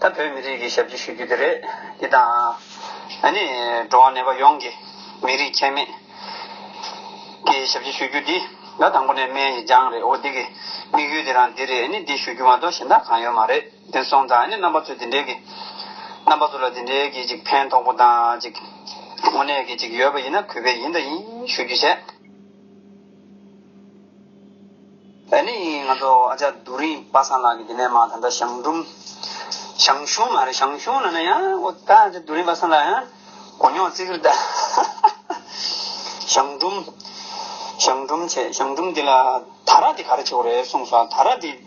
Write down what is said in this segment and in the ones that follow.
ད་བོད་མི་རིགས་ཀྱི་ཞབས་ཕྱི་ཞུ་རྒྱུ་དེ་རེད། འདི་དང། ཨ་ནི། འགྲོ་བ་ནད་པ་ཡོངས་ཀྱི། མི་རིགས་ཁྱད་མེད། ཀྱི་ཞབས་ཕྱི་ཞུ་རྒྱུ་འདི། ད་དང་པོ་ནས་སྨན་གྱི་སྦྱངས་རེད་འོ་འདི་གི། དམིགས་ཡུལ་དེ་རང་འདི་རེད་ཨ་ནི་འདི་ཞུ་རྒྱུ་མ་གཏོགས་གཞན་དག་གང་ཡོད་མ་རེད། དེ་སོང་ཙང་ཨ་ནི་རྣམ་པ་ཚོས་འདི་འདྲའི་གི། རྣམ་པ་ཚོ་ལ་འདི་འདྲའི་གི་ཅིག་ཕན་ཐོགས་པོ་དང་ཅིག། དངོས་གནས་གི་ཅིག་ཡོད་པ་ཡིན་ན་གུས་པས་ཡིན་དང་ཡིན་ཞུ་རྒྱུ་བྱས། བོད་ནས་ཡིན་ང་ཚོ་ཨ་ཅག་རྡོ་རིང་པ་སངས་ལགས་ཀྱི་དེ་ནས་མ་ད་ལྟ་ཞང་འབྲུམ། ཞང་ཞུང་མ་རེད་ཞང་ཞུང་ན་ན་ཡང་ཨོ་ད་ཨ་ཅག་རྡོ་རིང་པ་སངས་ལགས་ཡང་གོ་མྱོང་བརྩི་གིར་གདའ། ཞང་འབྲུམ། ཞང་འབྲུམ་བྱས་ཞང་འབྲུམ་དེ་ལ་ད་ར་དེ་ག་རེ་བྱེད་དགོས་རེད་གསུངས་སོང་ད་ར་དེ།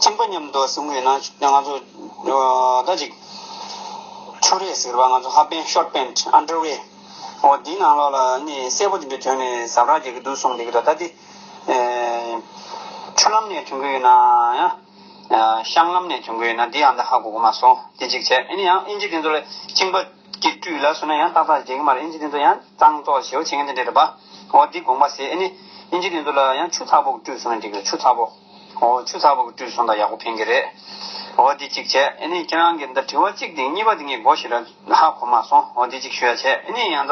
ཁྱིམ་པ་མཉམ་དུ་བཟུང་བའི་ནང་ཆུ་རས་ཟེར་བ་ང་ཚོ་ཧ་པེན་ཤོར་པེན་འདྲ་བའི་འོ་དེའི་ནང་ལོགས་ལ་ནི་སེར་པོ་དེ་འདྲ་དོན་ནས་ཟབ་རག་རྒྱག་གི་འདུག་གསུངས་འདུག་གི་ད་ལྟ་དེ་ཆུ་ལམ་ནས་དོན་གི་ཡོད་ན་ཡང་གཤང་ལམ་ནས་དོན་གི་ཡོད་ན་དེ་ཡང་ད་ཧ་གོ་གོ་མ་སོང་དེ་གཅིག་བྱས་ཨེ་ནི་ཡང་ཨིན་ཇི་དེ་ཚོ་ལ་ཁྱིམ་པ། ཀྱི་སྤྲུལ་ལ་སོན་ན་ཡང་ཏག་ཏག་རྒྱལ་ཁ་མར་ཨིན་ཇི་དེ་ཚོ་ཡང་གཙང་བཙོག་བྱེད་བ་བྱེད་མཁན་དེ་འདྲས་རེད་པ། འོ་འདི་དགོངས་པ་ཟེར་ཨེ་ནི། ཨིན་ཇི་དེ་ཚོ་ལ་ཡང་ཆུ་ཚགས་པོ་གི་སྤྲུལ་སོང་ན་འགྲིག་གི་ཆུ་ཚགས་པོ། འོ་ཆུ་ཚགས་པོ་གི་སྤྲུལ་སོང་ད་ཡག་པོ་ཕན་གི་རེད། འོ་འདི་གཅིག་བྱས་ཨེ་ནི་ཁྱེད་རང་གི་འདི་དྲི་བ་གཅིག་དེ་གཉིས་པ་དེ་ངས་གོ་ཞིག་ར་ཧ་གོ་མ་སོང་འོ་འདི་གཅིག་ཞུ་ཡ་བྱས་ཨེ་ནི་ཡང་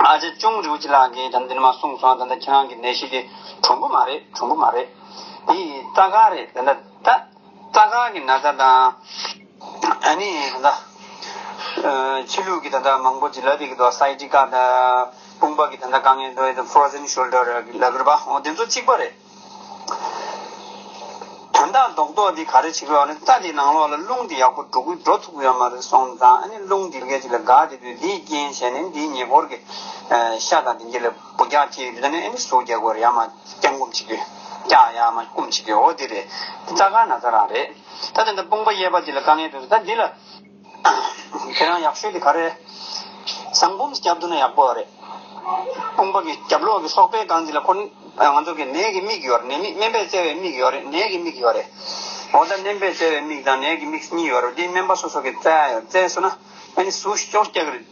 ཨ་ཅེ་ཅུང་རིའུ་ཅི་ལགས་ཀྱིས་ད་འདི་ནས་མ་གསུངས་སོང་ད་ཁྱེད་རང་གི་ནད་གཞི་དེ་གྲུམ་བུ་མ་རེད་གྲུམ་བུ་མ་རེད། འདི་ཡི་རྩ་ཁ་རེད་ད། རྩ་ཁང་གི་ན་བཟའ་དང། ནི་ད་ལྟ། ཕྱི་ལུགས་ཀྱི་ད་ལྟ་མང་པོ་ལ་དེ་གི་ད་སའི་ཏི་ཀ་ད་དཔུང་པ་གི་ད་ད་ཀ་ངའི་ད་ད Frozen Shoulder ལ་གུར་པ་འོ་དེ་ཚོ་གཅིག་པ་རེད། དོན་དག་རྡོག་རྡོག་དེ་ག་རེ་བྱེད་དགོས་ཨ་རེད་རྩ་དེ་ནང་ལོགས་ལ་རླུང་དེ་ཡག་པོ་འགྲོ་འགྲོ་ཐུབ་ཡོད་མ་རེད་སོང་ཙང་ཨ་ནི་རླུང་དེ་སྐད་ཅིག་ལ་འགག་དེ་དུས་དེའི་རྐྱེན་བྱས་ནས་དེའི་ཉེ་འཁོར་གྱི་ཤ་དང་དེ་འདྲ་ལ། སྒོ་རྒྱག་ཁྱི་ལི་ནི་ཨེ་ནི་སོ་རྒྱག་གོར་ཡ་མ་རྐྱང་སྐུམ་བྱེད་ཁྱི་རྐྱང་ཡ་མ་སྐུམ་བྱེད་ཁྱི་འོ་དེ་རེད་རྩ་དཀར་ན་ཚ་རང་རེད་ད་དེ་འདྲ་དཔུང་པ་གཡས་པ་འདི་ལ་དཀའ་ངལ་འདུག་ཟེར་ད་འདི་ལ་ཁྱེད་རང་ཡག་ཤོས་དེ་ག་རེད་བཟང་འབུམ་སྐྱབས་འདུག་ན་ཡག་པོ་རེད་དཔུང་པ་གི་རྒྱབ་ལོག་གི་སོག་པའི་སྒང་འདི་ལ་ཁོ་ང་ཚོ་གི་ནས་གི་མིག་ཡོད་རེད་ནས་མིག་སྨན་པས་བཙལ་བའི་མིག་ཡོད་རེད་ནས་གི་མིག་ཡོད་རེད་འོ་ད་སྨན་པས་བཙལ་བའི་མིག་དང་ནས་གི་མིག་གཉིས་ཡོད་རེད་འདི་སྨན་པ་སོ་སོ་གི་བཙལ་ཡོད་བཙལ་སོང་ན་ཨེ་ནི་སུ་ཤོ་རྐྱག་རེད།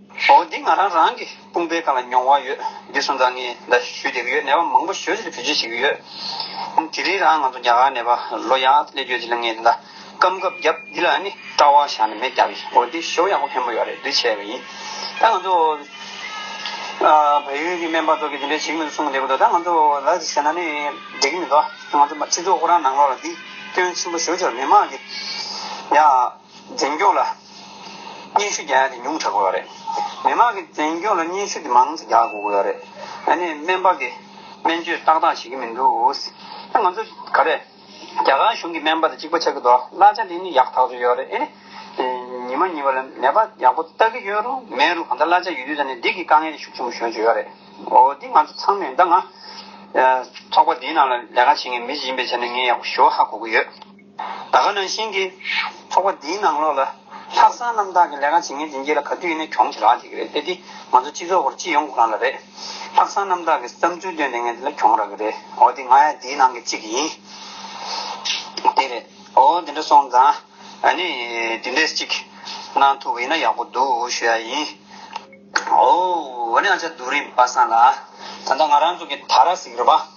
ཨོ་འདི་ང་རང་རང་གི་དཔུང་པའི་སྒང་ལ་མྱོང་བ་ཡོད་འདི་སོང་ཙང་ངས་འདའ་ཞུས་དེ་གི་ཡོད་ནད་པ་མང་པོ་ཞོལ་ཕྱི་ལ་བུད་རྗེས་བྱེད་གི་ཡོད་དེ་རིང་རང་ང་ཚོ་རྒྱ་གར་ནད་པ་ལོ་ཡག་སླེ་རྒྱོད་དེ་ལ་ངས་འདའ་སྐམ་གབ་རྒྱབ་འདི་ལ་ནི་སྐྲ་བ་ཞག་ནི་མེད་རྒྱབ་ཡིན་ཨོ་འདི་ཞོ་ཡག་པོ་ཕན་པོ་ཡོད་རེད་འདི་བྱས་པ་ཡིན་ད་ང་ཚོ་བལ་ཡུལ་གི་སྨན་པ་ཚོ་གི་དེ་འདྲའི་བྱེད་མི་འདུག་གསུང་གི་འདུག་ད་ང་ཚོ་ལ་དེ་བྱས་ན་ནི་འགྲིག་གི་མི་འདུག་ང་ཚོ་སྤྱི་ཚོགས་ཁོ་རང་ནང་ལོག་ལ་འདི་སྐྱོན་ཆེན་པོ་ཞོ་ཆོར་མི་མང་གི་ཡ། འཛིན་སྐྱོང་ལ་སྙན་ཞུ་རྒྱག་ཡ་དེ་ཉུང་དྲག་དགོས་བ་རེད། མི་དམངས་ཀྱི་འཛིན་སྐྱོང་ལ་སྙན་ཞུ་དེ་མང་ཙ་རྒྱག་དགོས་བ་རེད། ཨ་ནི་སྨན་པ་གི་སྨན་བཅོས་ཏག་ཏག་བྱེད་ཀྱི་མི་འདུག་ཨ་ང་ཚོ་ག་རེ། རྒྱ་གར་གཞུང་གི་སྨན་པ་དེ་གཅིག་པ་ཆགས་ཀྱི་འདུག་གླ་ཆ་དེ་ནི་ཡག་ཐག་ཆོད་ཡོད་རེད་ཨེ་རེད། ཉི་མ་གཉིས་པ་ལ་ནད་པ་ཡག་པོ་ལྟ་གི་ཡོད་རུང་མེད་རུང་གང་ལྟར་གླ་ཆ་ཡོད་དུས་ད་ནི་འདི་གི་དཀའ་ངལ་དེ་ཤུགས་ཆེན་པོ་ཤོར་གྱི་ཡོད་རེད། འོ་འདི་ང་ཚོ་ཚང་མས་ད་ང། ཚོགས་པ་འདིའི་ནང་ལ་ལས་ཀ་བྱེད་མཁན་མི་ཞིག་ཡིན་པའི་ཆ་ནས་ངས་ཡག་པོ་ཞུ་བ་ཧ་གོ་གི་ཡོད། ད་ག་ནང་བཞིན་གྱི། ཚོགས་པ་འདིའི་ནང་ལོགས་ལ། ལྷག་བསམ་རྣམ་དག་གི་ལས་ཀ་བྱེད་མཁན་དེ་འགྱེད་ལ་ག་དུས་ཡིན་ན་གྱོང་ཆེ་རག་འགྱེད་ཀྱི་རེད་དེ་དེ་ང་ཚོ་སྤྱི་ཚོགས་སྐོར་སྤྱི་ཡོངས་ཁོ་རང་ལ་རེད། ལྷག་བསམ་རྣམ་དག་གིས་བསམ་ཚུལ་བཏོན་དེ་ངས་འདི་ལ་གྱོང་རག་གི་རེད་འོ་དེ་ང་ཡང་འདིའི་ནང་གི་གཅིག་ཡིན། དེ་རེད་འོ་དེ་འདྲ་སོང་ཙང། ཨ་ནི། དེ་འདྲས་གཅིག། གནང་ཐུབ་ཡིན་ན་ཡག་པོ་འདུག་ཞུ་ཡ་ཡིན། ཨོའོ། ཨོ་ནི་ཨ་ཅག་རྡོ་རིང་པ་སངས་ལ། ད་ལྟ་ང་རང་ཚོ་གི་ད་ར་ཟིག་རེད་པ།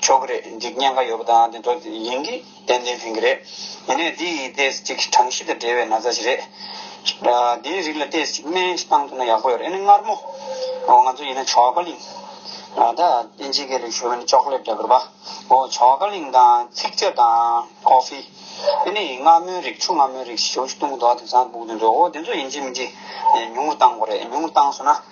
ཆོག་གི་རེད་འཇིག་ཉེན་ཁ་ཡོད་པ་དང་དེ་ཚོ་ཡིན་གི་ཏན་ཏན་ཕན་གི་རེད། ཡིན་ནའི་འདི་ཡིན་ཏེ་ཅིག་གྲངས་གཞི་དང་འབྲེལ་བའི་ན་ཚ་ཞིག་རེད། འདིའི་རིགས་ལ་ཏེ་ཅིག་སྨན་ཞིག་བཏང་ཐུབ་ན་ཡག་པོ་ཡོད་རེད་ཨ་ནི་མངར་མོ། འོ་ང་ཚོ་ཡིན་ན་བྱ་བ་ཀ་ལིང། ད་ཨིན་ཇིའི་སྐད་ལས་ཞུ་བ་ནི་ཅོག་ལེབ་འདྲ་གི་རེད་པ། འོ་བྱ་བ་ཀ་ལིང་དང་ཚིག་ཅར་དང Coffee། ཨེ་ནི་མངར་མོའི་རིགས་ཆུ་མངར་མོའི་རིགས་ཞེས་བྱུང་ཞིག་བཏུང་གི་འདུག་ཨ་དེང་སང་སྦུག་དེ་ཚོ་འོ་དེ་ཚོ་ཡིན་གྱི་མིན་གྱི་ཉུང་ངུར་བཏང་གོ་རེད་ཉུང་ངུར་བཏང་སོང་ན།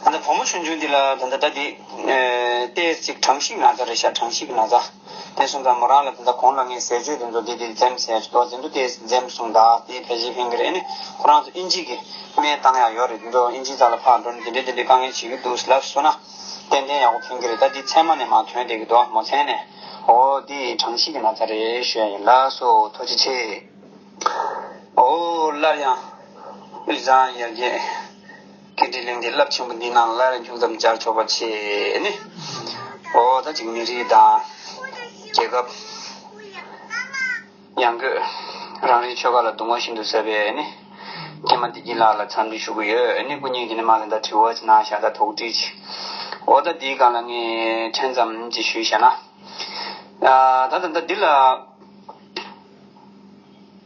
ད་ལྟ་བུ་མོ་ཆུང་ཆུང་འདི་ལ་ད་ལྟ་ད་འདི། ལྟས་ཅིག་གྲངས་ཤིག་ན་ཚ་རེ་ཤ་གྲངས་ཤིག་ན་ཚ། དེ་སོང་ཙང་མོ་རང་ལ་ད་ལྟ་གོང་ལ་ངས་ཟས་སྤྱོད་དེ་ཚོ་འདི་འདི་འཛེམས་ཟེར་དོ་འཛེམ་དུ་ལྟས་འཛེམས་སོང་ད་དེ་བྷེ་ཇེ་ཕེང་གི་རེད་ནི་ཁོ་རང་ཚོ་ཨིན་ཇིས་ཀྱི་སྨན་བཏང་ཡག་ཡོག་རེད་དེ་ཚོ་ཨིན་ཇིས་ཚ་ལ་ཕར་འགྲོ་ནི་འདི་འདྲའི་འདི་འདྲའི་དཀའ་ངལ་བྱེད་ཀྱི་འདུག་ཟེར་ལབ་སོང་ན། ཏན་ཏན་ཡག་པོ་ཕེང་གི་རེད་ད་འདི་མཚན་མ་ནས་མ་ཐོན་བསྡད་ཀྱི་འདུག་མོ་མཚན་ནས། ཨོ་འདི་གྲངས་ཤིག་ན་ཚ་རེད་ཤོད་ཡིན་ལགས་སོ་ཐུགས་རྗེ་ཆེ། ཨོ་སླར་ཡང་དབུས་གཙང་ཡར་རྒྱས། གལ་ཏེ་གླིང་འདི་རླབས་ཆེན་པོ་འདི་ནང་སླར་ཡང་ཅུང་ཙམ་སྦྱར་ཆོག་པ་བྱས་ནས། འོ་ད་ཅིག་མི་རིགས་དང། རྒྱལ་ཁབ། ཡང་སྒོས། རང་རེའི་ཆོལ་ཁ་ལ་དུང་བ་ཤིན་ཏུ་ཟབ་པས་ནི། རྒན་མ་བདེ་སྐྱིད་ལགས་ལ་འཚམས་འདྲི་ཞུ་གི་ཡོད་ནི་སྐུ་ཉིད་ཀྱིས་ནི་མ་གླེན་ད་དྲི་བ་ཅིག་གནང་ཞག་ད་དོགས་དྲིས་ཅིག། འོ་ད་འདིའི་སྒང་ལ་ངས་ཕྲན་ཙམ་ཅིག་ཞུས་ཞེ་ན། ད་ད་ལྟ་འདི་ལ།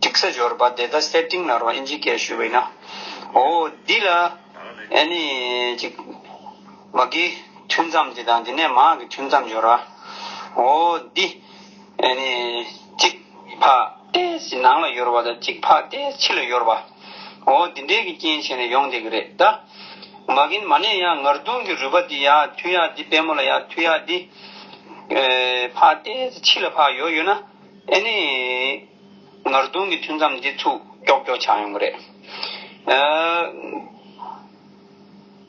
ཀྲིག་སེ་འབྱོར་པ་དེ་ད་སེ་ཏིང་ན་རོ་ཨིན་ཇི་སྐད་ཞུས་པ་ཡིན་ན། འོ་འདི་ལ་ཨེ་ནི་ཅིག། མ་གིའི་ཐུན་མཚམས་དེ་དང་དེ་ནས་མ་གི་ཐུན་མཚམས་འབྱོར་བ། འོ་འདི་ཨེ་ནི་ཅིག། འཕགས་ཏེ་སི་ནང་ལ་ཡོར་བ་དང་ཅིག་འཕགས་ཏེ་ཕྱི་ལ་ཡོར་བ། འོ་འདི་འདྲའི་གི་རྐྱེན་བྱས་ནས་ཡོང་བསྡད་གི་རེད་ད། མ་གིན་མ་ནས་ཡང་ངར་དུང་གི་རུས་པ་འདི་ཡག་ཐུན་ཡག་འདི་པད་མོ་ལ་ཡག་ཐུན་ཡག་འདི། འཕགས་ཏེ་སི་ཕྱི་ལ་འཕགས་ཡོར་ཡོད་ན་ཨེ་ནི། ངར་རྡུང་གི་ཐུན་མཚམས་འདི་ཚུགས་ཀྱོག་ཀྱོག་ཆགས་ཡོང་གི་རེད།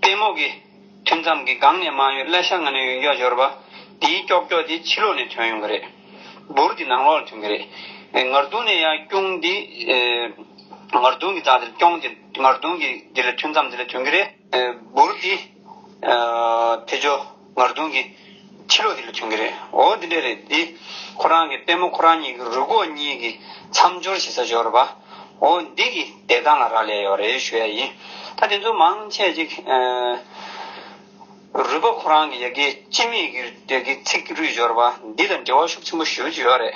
ལྟད་མོ་གི་ཐུན་མཚམས་ཀྱི་སྒང་ནས་མ་གཡོས་བརླ་ཤ་ང་ནས་ཡོན་ཀྱོག་འབྱོར་བ། འདིའི་ཀྱོག་ཀྱོག་དེ་ཕྱི་ལོགས་ནས་ཐོན་ཡོང་གི་རེད། འབུར་གྱི་ནང་ལོགས་ལ་ཐོན་གི་རེད། ངར་རྡུང་ནས་ཡར་སྐྱོང་འདི། ངར་རྡུང་གི་རྩ་དེ་ལ་སྐྱོང་དེ་ངར་རྡུང་གི་འདི་ལ་ཐུན་མཚམས་འདི་ལ་ཐོན་གི་རེད། འབུར་དེ། ཐེ་ཇོ་ངར་རྡུང་གི། ཕྱི་ལོགས་དེ་ལས་བྱུང་གི་རེད། འོ་དེ་འདྲ་རེད་དེ། ཁོ་རང་གི་པད་མོ་ཁོ་རང་གཉིས་ཀྱི་རུས་གོག་གཉིས་ཀྱི་མཚམས་སྦྱོར་བྱེད་ས་སྦྱོར་བ། འོ་འདི་གི་བདེ་ཐང་ལ་རག་ལས་ཡོད་རེད་ཞུ་ཡ་ཡིན། ད་དེ་ཚོ་མང་ཆེ་ཅིག། རུས་པ་ཁོ་རང་གི་ཡ་གི་སྤྱི་མེས་ཀྱི་ཚིག་རུས་སྦྱོར་བ་འདི་དང་འབྲེལ་བ་ཤུགས་ཆེན་པོ་ཞུ་ཀྱི་ཡོད་རེད།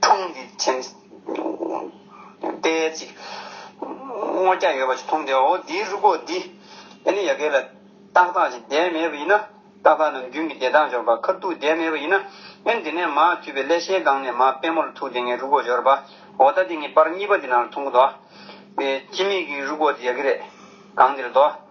འཁྲུངས་འདི་མཁྱེན། དཔལ་ཅིག། སྔོ་སྐྱ་ཡོད་པ་ཅིག་འཐུངས་ཏེ་འོ་འདིའི་རུ་སྒོ་འདི། ཨེ་ནི་ཡ་གས་ལ། ཏག་ཏག་ཅིག་བསྡད་མེད་པ་ཡིན་ན། ཏག་ཏག་ནམ་རྒྱུན་གྱི་བདེ་ཐང་སྦྱོར་བ་ཁ་ཐུག་བསྡད་མེད་པ་ཡིན་ན། ཨེ་འདི་ནས་མར་འཐུས་པའི་ཀླད་ཤའི་སྒང་ནས་མར་དཔལ་མོ་ལ་ཐུག་སྟེ་ངའི་རུ་སྒོ་སྦྱོར་བ། འོ་ད་དེ་ངའི་པར་གཉིས་པ་འདི་ནང་ལ་འཐུང་གོ་དོ། སྤྱི་མིག་གི་རུ་སྒོ་འདི་ཡ་གི་རེད། སྒང་འདི་རེད་དོ།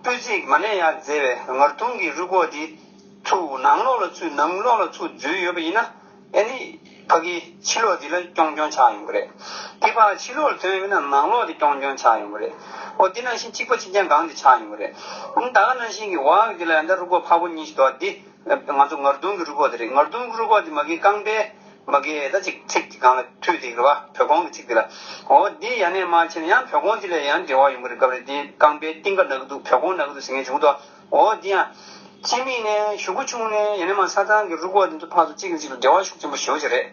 སྤོས་ཚིག་མ་ནས་ཡར་བརྫེས་པའི་ངར་ཐུང་གི་རུས་སྒོག་དེ་ཚུར་ནང་ལོགས་ལ་ཚུད་ནང་ལོགས་ལ་ཚུད་འཛུལ་ཡོད་པ་ཡིན་ན། ཨེ་ནི། ཕ་གིའི་ཕྱི་ལོགས་འདི་ལ་རྐྱོང་རྐྱོང་ཆགས་ཡོང་གི་རེད། དེ་ཕ་ཕྱི་ལོགས་ལ་ཐོན་ཡོད་ན་ནང་ལོགས་དེ་རྐྱོང་རྐྱོང་ཆགས་ཡོང་གི་རེད། འོ་དེ་ནང་བཞིན་གཅིག་པ་གཅིག་རྐྱང་གང་དེ་ཆགས་ཡོང་གི་རེད། ད་ག་ནང་བཞིན་གྱི་བག་དེ་ལ་ཡང་དག་རུས་སྒོག་ཕ་བོ་གཉིས་ཤིག་འདུག་ཨ་དེ། ང་ཚོ་ངར་དུང་གི་རུ་ཁོག་དེ་རེད་ངར་དུང་གི་རུ་ཁོག་དེ་མ་གིའི་རྐང་པའི། མ་གིའི་ཨེ་ད་ཅིག་ཚིག་ཅིག་གང་ལ་ཐུག་དེ་གི་བ་བོད་ཁོང་གི་ཚིག་དེ་ལ། འོ་འདི་ཡ་ནས་མ་བྱས་ན་ཡང་བོད་ཁོང་དེ་ལས་ཡང་འབྲེལ་བ་ཡོང་གི་རེད་སྐབས་རེ་འདི་རྐང་པའི་གཏིང་ཀ་ན་གི་འདུག་བོད་ཁོང་ན་གི་འདུག་ཟེར་མཁན་བྱུང་ཐོ་འོ་འདི་ཡང། སྤྱི་མིང་ནས་ཞུ་གི་ཆུང་ནས་ཡ་ནས་མ་ས་ཚང་གི་རུ་ཁོག་དེ་ཚོ་ཕག་ཚོ་གཅིག་གི་གཅིག་ལ་འབྲེལ་བ་ཤུགས་ཆེན་པོ་ཞེ་བོ་ཅིག་རེད།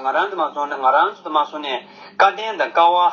ང་རང་དུ་མ་སོང་ན་ང་རང་ཚོ་དུ་མ་སོང་ནས་བཀའ་བསྟན་དང་བཀའ་བ།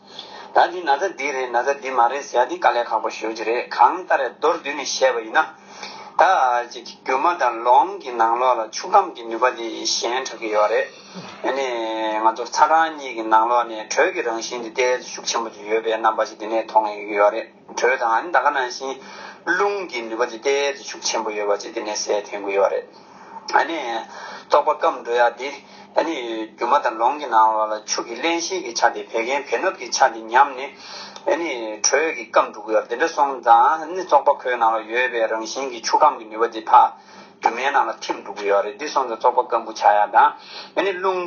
ད་འདི་ན་ཚ་འདི་རེད་ན་ཚ་འདི་མ་རེད་ཟེར་ཡ་འདི་དཀའ་ལས་ཁག་པོ་ཞུ་རྒྱུ་རེད་གང་ལྟར་མདོར་བསྡུས་ནས་བཤད་པ་ཡིན་ན། ད་ཅིག་གི་རྒྱུ་མ་དང་ལོང་གི་ནང་ལོགས་ལ་ཆུ་སྐམ་གྱི་ནུས་པ་དེ་ཞན་དྲགས་ཀྱི་ཡོད་རེད། དེ་ནས་ང་ཚོར་ཚ་གྲང་གཉིས་ཀྱི་ནང་ལོགས་ནས་དྲོད་ཀྱི་རང་བཞིན་དེ་ཏལ་ཤུགས་ཆེན་པོ་དེ་ཡོད་པའི་རྣམ་པ་ཞིག་དེ་ནས་མཐོང་ཡོད་ཀྱི་ཡོད་རེད། དྲོད་དང་ནི་ད་ག་ནང་བཞིན་རླུང་གི་ནུས་པ་ཇི་སྟེ་བརྩི་བཞུགས་ཆེན་པོ་ཡོད་པ་ཅི་སྟེ་ནས་སའི་ཐན་གུ་ཡོད་པ་རེད། ནི། རྟོག་པ་སྐམ་འགྲོ་ཡ་འདི། ནི། སྒྱུ་མ་དང་ལོང་གི་ནང་བ་ལ་ཆུ་གི་བརླན་ཤིང་གི་ཆ་དེ་བད་ཀན་བེ་ནུབ་ཀྱི་ཆ་དེ་ཉམས་ནི། ནི། དྲོད་ཀྱི་སྐམ་འགྲོ་གུ་ཡོད་དེ་འདྲ་སོང་ཙང་ནི་བཙོག་པ་ཁོའི་ནང་ལ་ཡོད་པའི་རང་བཞིན་གྱི་ཆུ་སྐམ་གྱི་ནུས་པ་དེ་ཕ། སྒྱུ་མའི་ནང་ལ་ཐིམ་འགྲོ་གུ་ཡོད་རེད་འདི་སོང་ཙང་བཙོག་པ་སྐམ་འགུ་ཆ་ཡ་དང། ནི་རླུང།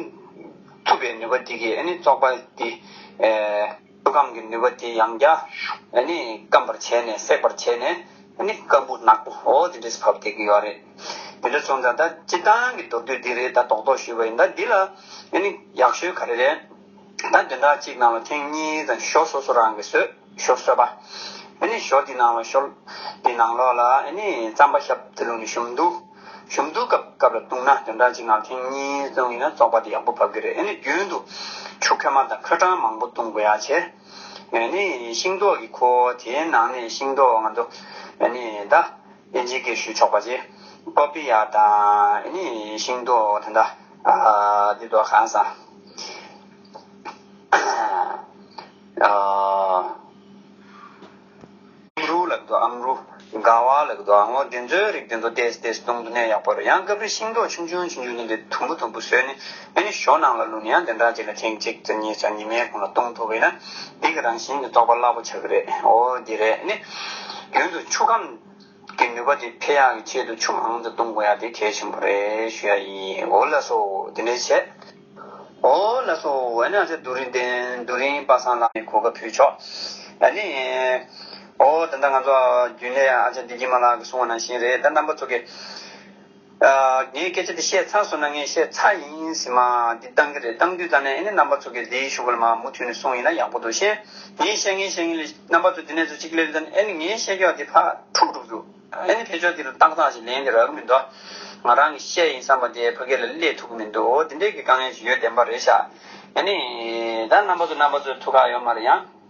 འཐུ་བའི་ནུས་པ་འདི་གིས་ནི་བཙོག་པ་འདི། ཆུ་སྐམ་གྱི་ནུས་པ་དེ་ཡང་བརྒྱ་ནི་སྐམ་པར་བྱས་ནས་སྲེག་པར་བྱས་ནས་ནི་སྐམ་བུ་ནག་པོ་འོ་དེ་འདྲས་སུ་ཕབ་སྟེ་གི་ཡོད་རེད། དེ་འདྲ་བྱུང་ཙང་ད་སྤྱི་བཏང་གི་མདོར་བསྡུས་འདི་རེད་ད་དོག་དོག་ཞུས་པ་ཡིན་ད་འདི་ལ་ནི་ཡག་ཤོས་ག་རེ་རེད། ད་བདུན་ཕྲག་གཅིག་ནང་ལ་ཐེངས་གཉིས་ཙམ་ཞོ་སོ་སོ་རང་གི་སོས་ཞོ་སོས་པ། ནི་ཞོ་དེ་ནང་ལ་ཞོ་དེ་ནང་ལོགས་ལ་ནི་རྩམ་པ་ཞབས་དེ་ལུགས་ནི་ཞུམ་འདུག། གཞུང་བསྡུ་སྐབས་སྐབས་ལ་ལྟུང་ན་དོན་དག་གཅིག་ངག་ཐེངས་གཉིས་བརྩམས་ཡོད་ན་བཙོག་པ་དེ་ཡག་པོ་བབས་ཀྱི་རེད་ཨེ་ནི་རྒྱུན་དུ་ཆུ་ཁོལ་མ་དང་ཁོལ་གྲང་མང་པོ་བཏུང་དགོས་ཡ་ཆེ། ཨེ་ནི་ཤིང་ཏོག་གི་ཁོ་བོ་དེའི་ནང་ནས་ཤིང་ཏོག་ང་ཚོ་ཨེ་ནི་ད་ཨེ་འཇིག་གེར་ཞུ་ཆོག་པ་ཅི། ཏོ་པི་ཡ་དང་ཨེ་ནི་ཤིང་ཏོག་དེ་འདྲ་འདི་དོ་གང་ས་ཨ། ཨམ་རུའུ་ལགས་དོ་ཨམ་རུའུ། དགའ་བ་ལགས་དོ་ཨ་ངོ་འདི་ཚོའི་རིགས་འདི་ཚོ་བལྟས་སུ་བལྟས་སུ་གཏོང་དུ་གནས་ཡག་པོ་རེད་ཡང་སྐབས་རེ་ཤིང་ཏོག་ཆུང་ཆུང་ཆུང་ཆུང་ལྡན་པའི་དུམ་བུ་དུམ་བུ་ཟོས་ནས་ཨེ་ནི་ཞོ་ནང་ལ་བླུགས་ནས་ཡང་དེ་འདྲ་ཅིག་ལ་ཐེངས་གཅིག་ཙམ་གཉིས་ཙམ་ཉི་མའི་གོང་ལ་གཏོང་ཐུབ་པ་ཡིན་ན་འདི་གི་རང་བཞིན་གྱི་རྟོགས་པ་རླབས་པོ་ཆགས་ཀྱི་རེད་འོ་འདི་རེད་ཨེ་ནི། རྒྱུན་དུ་ཆུ་ཁམས། གི་ནུས་པ་དེ་འཕེལ་ཡང་གི་ཆེད་དུ་ཆུ་མང་དུ་གཏོང་དགོས་ཡ་དེ་གལ་ཆེན་པོ་རེད་ཞུ་ཡ་ཡིན་འོ་ལ་སོ་དེ་འདྲའི་བྱས། འོ་ལ་སོ་འོ་ན་ཚེ་རྡོ་རིང་བསྟན་རྡོ་རིང་པ་སངས་ལགས་ནས་གོ་སྐབས་ཕུལ་ཆོག་ཨ་ནི། འོ་ད་ལྟ་ང་ཚོ་རྒྱུན་ལས་ཨ་ཅག་བདེ་སྐྱིད་མ་ལགས་ཀྱི་གསུང་བ་ནང་བཞིན་རེད་ད་རྣམ་པ་ཚོ་གི། ངས་སྐད་ཆ་འདི་བཤད་ཚར་སོང་ན་ངས་བཤད་ཚར་ཡིན་ཡིན་ཟེར་མ་འདི་བཏང་གི་རེད་བཏང་དུས་ད་ནས་ཨེ་ནས་རྣམ་པ་ཚོ་གིས་འདིའི་ཤོག་བུ་ལ་མ་མུ་མཐུད་ནས་སོང་ཡིན་ན་ཡག་པོ་འདུག་ཤེས། ངས་བཤད་ངས་བཤད་ངས་ལས་རྣམ་པ་ཚོ་འདི་ནས་ཚོ་གཅིག་ལེ་ལོས་ད་ནས་ཨེ་ནས་ངས་བཤད་རྒྱུ་བ་འདི་ཕ་ཕྲུག་འགྲུབ་རྒྱུ། ཨེ་ནས་ཕལ་ཆོག་འདི་ལ་ཏག་ཏག་ཅིག་ལན་འདི་རག་གི་མི་འདུག་ང་རང་གིས་བཤད་ཡིན་བསམ་པ་དེ་ཕ་སྐད་ལ་སླེབས་ཐུབ་གི་མི་འདུག་འདི་འདྲའི་གི་དཀའ་ངལ་ཞིག་ཡོད་བདེན་པ་རེད་ཤག་ཨེ་ནས་ད་རྣམ་པ་ཚོ་རྣམ་པ་ཚོའི་ཐུགས་ཁག་ཡོད་མ་རེད་ཡ།